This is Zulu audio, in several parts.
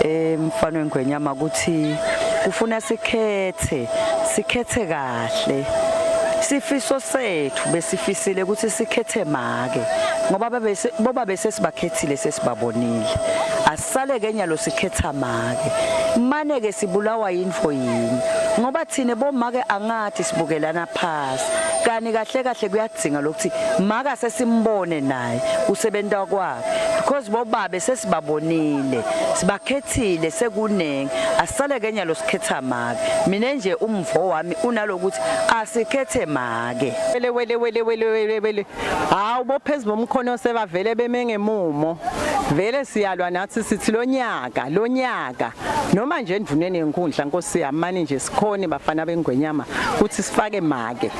emfana wengwenyama ukuthi kufuna sikhethe sikhethe kahle sifiso sethu besifisile ukuthi sikhethe make ngoba babese boba bese sibakhethile sesibabonile asisale ke nyalo sikhetha make mane ke sibulawa info yini ngoba thina bomake angathi sibukelana phasi kani kahle kahle kuyadzinga lokuthi maka sesimbone naye usebenza kwa because bobabe sesibabonile sibakhethile sekuningi asisale kenya losikhetha make mina nje umvo wami unalokuthi asikhethe make wele wele wele wele wele wele hawu bophezulu bomkhono sebavele beme ngemumo vele siyalwa nathi sithi lonyaka lonyaka noma nje endvuneni yenkundla nkosi yami mani nje Khoni bafana bengwenyama kuthi sifake make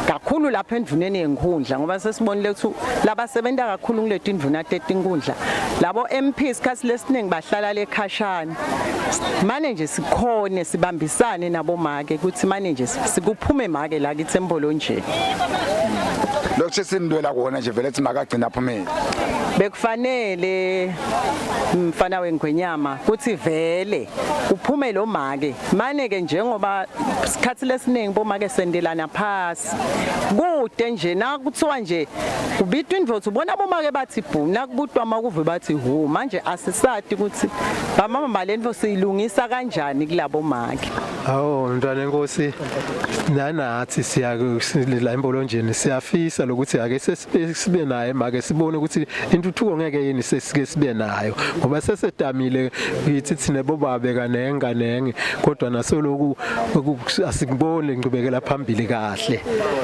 kakhulu lapha endvuneni yenkhundla ngoba sesibonile ukuthi labasebenza kakhulu kuleti ndvuna tetinkhundla labo MP isikhathi lesiningi bahlala lekhashana mane nje sikhone sibambisane nabo make ukuthi mane nje sikuphume make la kithi embolo nje lokho sesindwela kona nje vele simakagcina aphumile bekufanele mfana wengwenyama kuthi vele kuphume lo make mane-ke njengoba sikhathi lesiningi bomake sendelana phasi kude nje nakuthiwa nje kubitwa indvodza ubona bomake bathi bhu nakubutwa makuve bathi hu manje asisati ukuthi bamama balento siyilungisa kanjani kulabo make awu mntwana enkosi nanathi siya la embolonjeni siyafisa lokuthi ake sibe naye make sibone ukuthi intuthuko ngeke yini sesike sibe nayo ngoba sesedamile yithi thina bobabe kanenga nenge kodwa nasoloku asikubone ngqubekela phambili kahle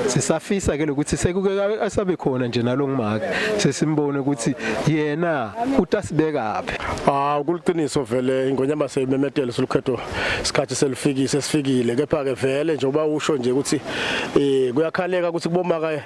sisafisa ke lokuthi sekuke asabe khona nje nalongimake sesimbone ukuthi yena utasibekaphi ah ukuliqiniso vele ingonyama seyimemetele solukhetho isikhathi selifikise sifikile kepha ke vele njengoba usho nje ukuthi eh kuyakhaleka ukuthi kubomaka